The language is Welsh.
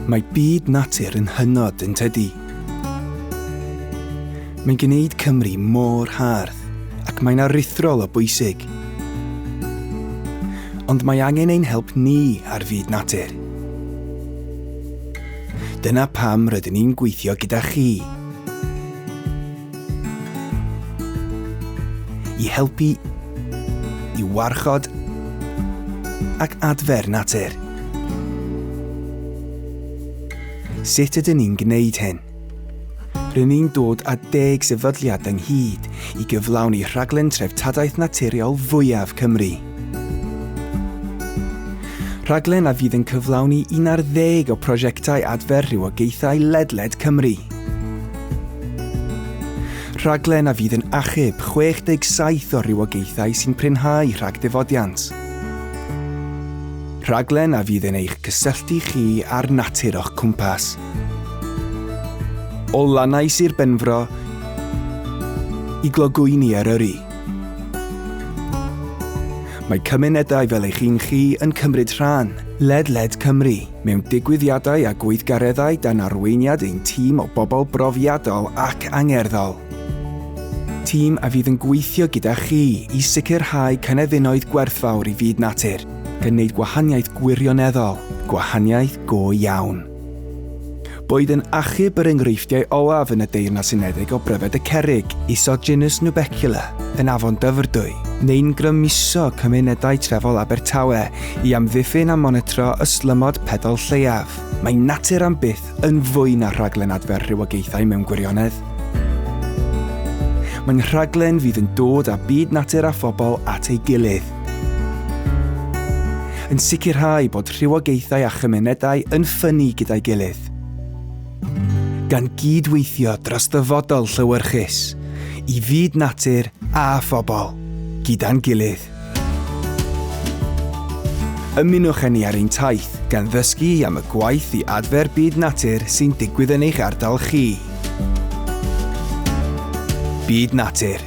Mae byd natur yn hynod yn tydi. Mae'n gwneud Cymru mor hardd ac mae'n aruthrol o bwysig. Ond mae angen ein help ni ar fyd natur. Dyna pam rydyn ni'n gweithio gyda chi. i helpu i warchod ac adfer natur. Sut ydyn ni'n gwneud hyn? Rydyn ni'n dod â deg sefydliad ynghyd i gyflawni rhaglen treftadaeth naturiol fwyaf Cymru. Rhaglen a fydd yn cyflawni un ar ddeg o prosiectau adfer rhywogaethau ledled Cymru. Rhaglen a fydd yn achub 67 o rywogaethau sy'n prynhau rhag difodiant. Rhaglen a fydd yn eich cysylltu chi â'r natur o'ch cwmpas. O lannau Sir Benfro i glogwyni Eryri. Mae cymunedau fel eich un chi yn cymryd rhan ledled Cymru. Mewn digwyddiadau a gweithgareddau dan arweiniad ein tîm o bobl brofiadol ac angerddol. Tîm a fydd yn gweithio gyda chi i sicrhau cynefinoedd gwerthfawr i fyd natur, gan wneud gwahaniaeth gwirioneddol, gwahaniaeth go iawn. Boed yn achub yr enghreifftiau olaf yn y Deyrnas Unedig o bryfed y cerrig, isod genus Nubecula, yn Afon Dyfrdwy, neu'n grymuso cymunedau trefol Abertawe i amddiffyn a monitro ystlymod pedol lleiaf, mae natur am byth yn fwy na rhaglen adfer rhywogaethau mewn gwirionedd. Mae'n rhaglen fydd yn dod â byd natur a phobl at ei gilydd, yn sicrhau bod rhywogaethau a chymunedau yn ffynnu gyda'i gilydd, gan gyd-weithio dros ddyfodol llewyrchus i fyd natur a phobl, gyda'n gilydd. Ymunwch â ni ar ein taith gan ddysgu am y gwaith i adfer byd natur sy'n digwydd yn eich ardal chi. Byd Natur.